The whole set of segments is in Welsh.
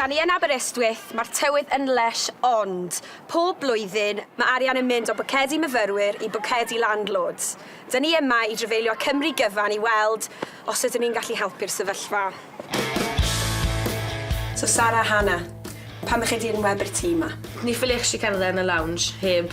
Da ni yn Aberystwyth, mae'r tywydd yn lysh ond, pob blwyddyn, mae arian yn mynd o bocedi myfyrwyr i bocedi landlords. Da ni yma i drafeilio Cymru gyfan i weld os ydyn ni'n gallu helpu'r sefyllfa. So Sara a Hannah, pam ych chi 'di enwebu'r tŷ 'ma? Ni ffiliech chi cerdded yn y lounge heb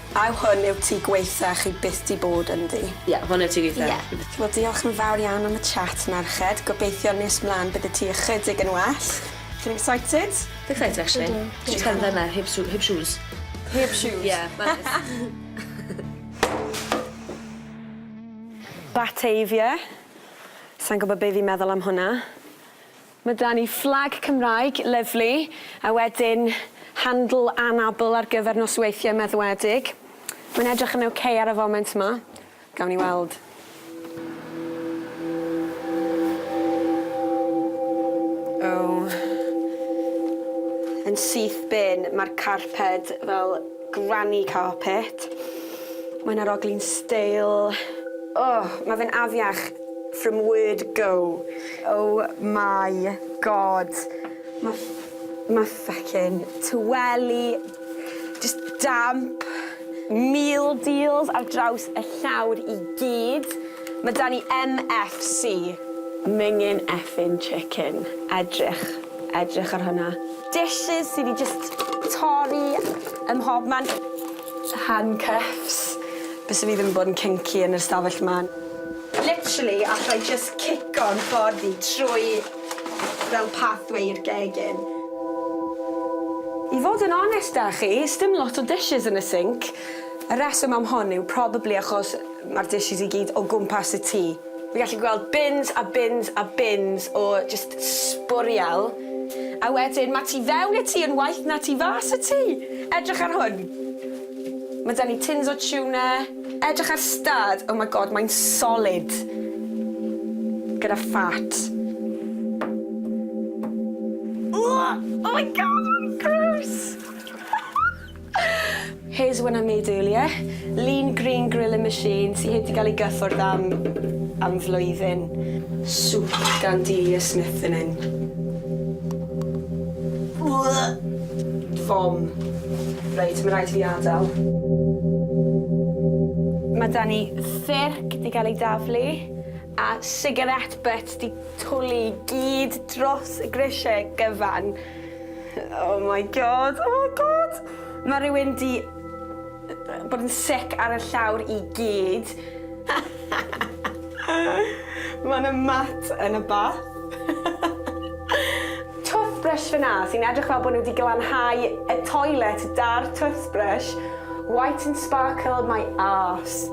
A yw hwn yw tŷ gwaetha chi byth di bod ynddi? Ie, hwn yw tŷ gwaetha Ie. fi byth. Wel diolch yn fawr iawn am y chat merched, gobeithio nes mlan bydd y tŷ ychydig yn well. Chi'n excited? Fi excited actually. Ydw. Dwi jyst cerdded yma heb sw- heb shoes. Heb shoes? Ie, ma'n neis. Batavia. Sai'n gwbo be fi'n meddwl am hwnna. Ma da ni fflag Cymraeg lyfli a wedyn handl anabl ar gyfer nosweithie meddwedig. Mae'n edrych yn ok ar y foment ma. Gawn ni weld. O! Yn syth bin, ma'r carped fel granny carpet. Mae'n arogli'n steil. O! Ma fe'n afiach. From word go. Oh my God. Ma' ff- ma' ffycin tweli jyst damp. Meal deals ar draws y llawr i gyd. Ma' 'da ni MFC. Mingin' effin' chicken. Edrych. Edrych ar hwnna. Dishes sy' 'di jyst torri ym mhobman. Handcuffs. Byse fi ddim yn bod yn kinky yn yr ystafell 'ma. Literally alla i jyst cico'n ffordd i trwy fel pathway i'r gegin. I fod yn onest â chi, sdim lot o dishes yn y sinc. Y rheswm am hwn yw probably achos ma'r dishes i gyd o gwmpas y tŷ. Fi'n gallu gweld bins a bins a bins o jyst sbwriel. A wedyn ma' tu fewn y tŷ yn waeth na tu fas y tŷ. Edrych ar hwn. Ma' 'da ni tins o tuna. Edrych ar stad, oh my God, mae'n solid. Gyda fat. Ww! Oh my God, gross! Here's one I made earlier. Lean green grilling machine sy heb 'di ga'l ei gyffwrdd am am flwyddyn. Soup gan Delia Smith yn hyn. Vom. Reit, ma' raid i fi adel. Ma' 'da ni ffyrc 'di ga'l ei daflu a sigarét byt 'di twli i gyd dros y grisie gyfan. Oh my god, oh my god! Mae rhywun di bod yn sick ar y llawr i gyd. Mae yna mat yn y bath. toothbrush fyna sy'n edrych fel bod nhw wedi glanhau y toilet da'r toothbrush. White and sparkle my arse.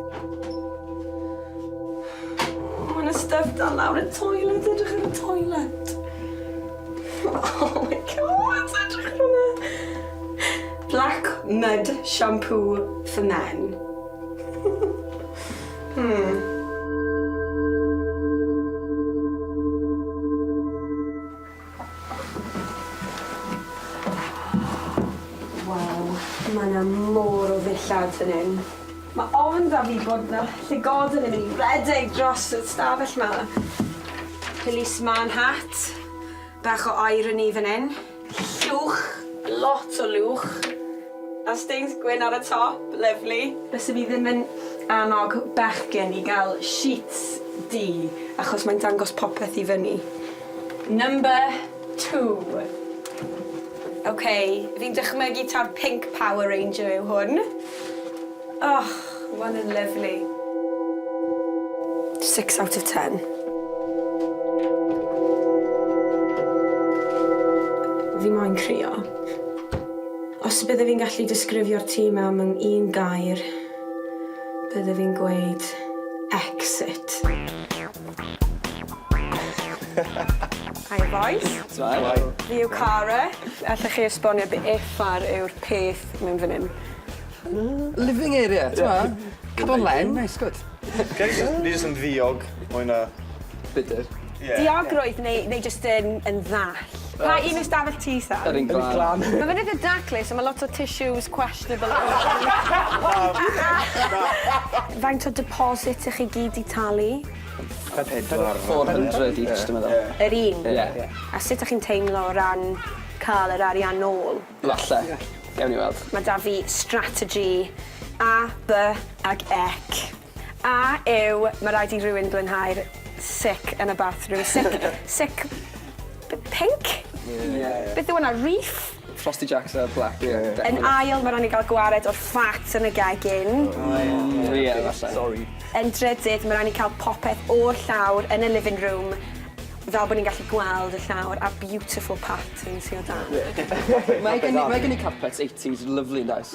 Mae yna stuff dan lawr y toilet, edrych ar y toilet. Oh my god, edrych ar hwnna! Black Mud Shampoo for Men. hmm. Wow, mae yna môr o ddillad fan hyn. Mae ofn 'da fi bod 'na llygoden yn mynd i redeg dros y stafell 'ma. Policeman hat, bach o irony fan 'yn. Llwch, lot o lwch, a stains gwyn ar y top, lyfli. Bysen i ddim yn annog bechgyn i gael sheets du achos mae'n dangos popeth i fyny. Number. Two. Ok, fi'n dychmygu taw'r pink Power Ranger yw hwn. Och, ma' hwn yn lyfli. Six out of ten. Fi moyn crio. Os bydde fi'n gallu disgrifio'r tŷ 'ma mewn un gair, bydde fi'n gweud exit. Hiya bois. Shwmae. Fi yw Cara. Allech chi esbonio be' effar yw'r peth mewn fyn 'yn? Living area t'mo'? Come on Len neis gwd. Ni jyst yn ddiog mwy na... Bitter. Ie. Diogrwydd neu neu jyst yn yn ddall? Pa un yw stafell ti Sam? Yr un glân. Ma' fe'n itha daclus a ma' lot o tissues questionable Faint o deposit 'ych chi gyd 'di talu? Pedwar. Four hundred each dwi meddwl. Ie. Yr un? Ie. Ie. A sut 'dych chi'n teimlo o ran ca'l yr arian nôl? Falle. Gewn ni weld. Ma' 'da fi strategy A, By ac Ec. A yw ma raid i rywun flinhau'r sic yn y bathroom? Sic sic p- pinc? Ie. Beth yw wnna? Reef? Frosty Jacks a Black ie definate. Yn ail ma raid ni ga'l gwared o'r fat yn y gegin. O ie. O ie falle. Sori. Yn drydydd ma raid ni ca'l popeth o'r llawr yn y living room fel bo ni'n gallu gweld y llawr a beautiful parties sy o dan. Ie. Mae gen i mae gen i carpet eighties lyfli yndoes?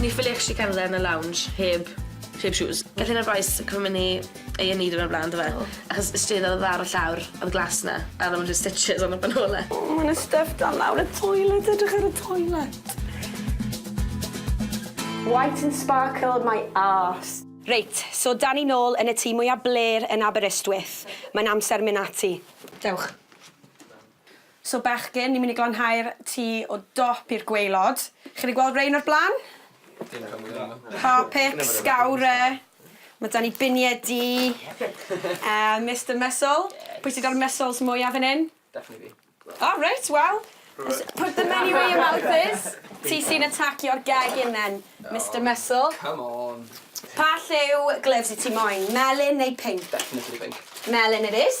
Ni ffili actually cerdded yn y lounge heb heb shoes. Gath un o'r bois cymyd myn i Ay an' Ee diwrnod o bla'n do fe? O. Achos y stryd odd ar y llawr odd glass na a odd o jys stitches arno fe nôl e. O ma' 'na styff dan lawr y toilet edrych ar y toilet. White and sparkled my arse. Reit, so 'dan ni nôl yn y tŷ mwya blêr yn Aberystwyth. Mae'n amser myn' ati. Dewch. So bechgyn, ni'n mynd i glanhau'r tŷ o dop i'r gwaelod. Chi wedi gweld rein o'r blaen? Dim cam ynglyn â 'na. Harpic, Scowrer, ma' 'da ni biniau du, a Mister Mussel. Pwy sy 'da'r muscles mwya fan 'yn? Definitely fi. O reit, wel, put the money where your mouth is. Ti sy'n atacio'r gegin then, Mister Mussel. Come on! Pa lliw gloves wyt ti moyn, melyn neu pinc? Definitely pinc. Melyn it is.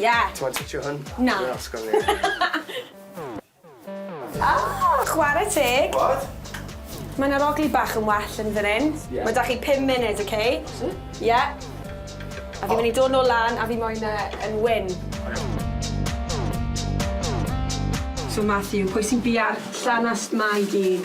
Ie. Ti moyn twtsio hwn? Na. Dwi'n osgo fi. Ah! Chware teg. What? Mae 'na rogli bach yn well yn fan 'yn. Ie. Ma' 'da chi pum munud, ok? Ti? Ie. A fi myn' i dod nôl lan a fi moyn e yn wyn. So Matthew, pwy sy'n bia'r llanast 'ma i gyd?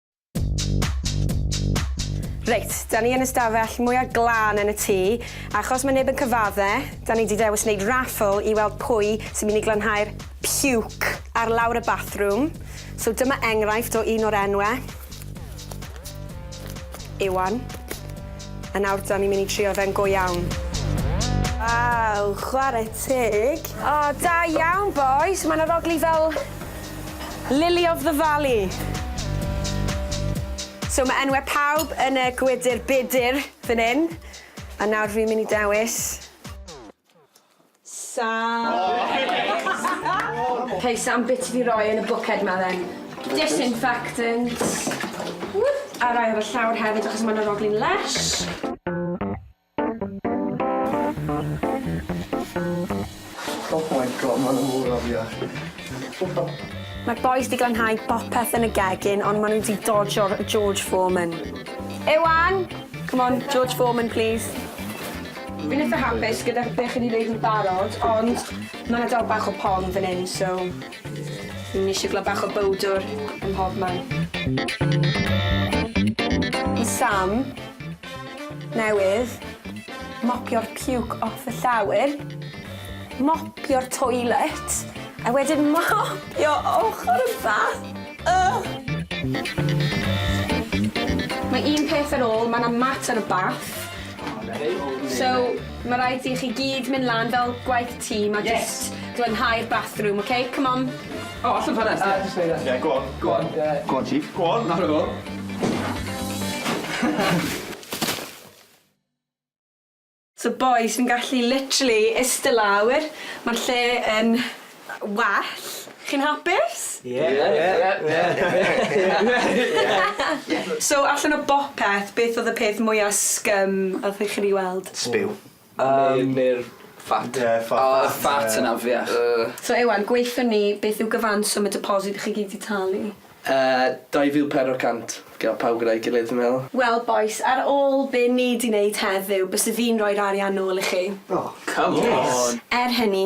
Reit, da ni yn y stafell mwyaf glân yn y tŷ. Achos mae neb yn cyfadde, da ni di dewis wneud raffle i weld pwy sy'n mynd i glanhau'r puke ar lawr y bathroom. So dyma enghraifft o un o'r enwe. Iwan. A nawr da ni'n mynd i trio fe'n go iawn. Waw, chwarae teg. O, da iawn bois, mae'n arogli fel Lily of the Valley. So ma' enwe pawb yn y gwydyr budur fan 'yn, a nawr fi'n myn' i dewis. Sam. Hey Sam, be' ti 'di roi yn y bwced 'ma then? Disinfectant. Ww! A rai ar y llawr hefyd achos ma' 'na roglyn lesh. Oh my God, mae'n mor afiach. Mae'r bois di glanhau bopeth yn y gegin ond maen nhw di dodgio'r George Foreman. Iwan! Come on, George Foreman please. Fi'n eitha hapus gyda be chi di neud yn barod ond mae yna dal bach o pon fan hyn so fi'n eisiau gweld bach o bowdwr ym mhobman. Sam, newydd, mopio'r puke off y llawr, mopio'r toilet, a wedyn mopio ochr y bath. Ugh! Mae un peth ar ôl, mae 'na mat ar y bath. So, mae rhaid i chi gyd mynd lan fel gwaith tîm a jyst glanhau'r bathroom, ok? Come on. O, allwn ffenest, ie. Jyst neud e. Ie, go on. Go on, ie. Go on, chief. Go on. Nawr o fo. So bois, fi'n gallu literally iste lawr, ma'r lle yn well. Chi'n hapus? Ie. Ie. Ie. Ie. So allan o bopeth, beth odd y peth mwya' scum oddech chi 'di weld? Sbiw. Yym. Ne' ne'r fat. Ie y fat. O y fat yn afiach. Yy. So Iwan, gweutho ni, beth yw gyfanswm y deposit chi gyd 'di talu? Yy, dau fil pedwar cant. Gyda pawb gyda'i gilydd fi'n meddwl. Wel bois, ar ôl be' ni 'di neud heddiw, byse fi'n rhoi'r arian nôl i chi. O. Come on! Yes! Er hynny,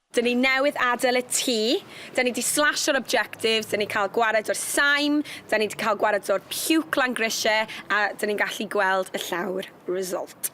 Dyn ni newydd adael y tŷ, dyn ni 'di slasho'r objectives, dyn ni cael gwared o'r saim, dyn ni 'di cael gwared o'r puke lan grisiau a dyn ni'n gallu gweld y llawr result.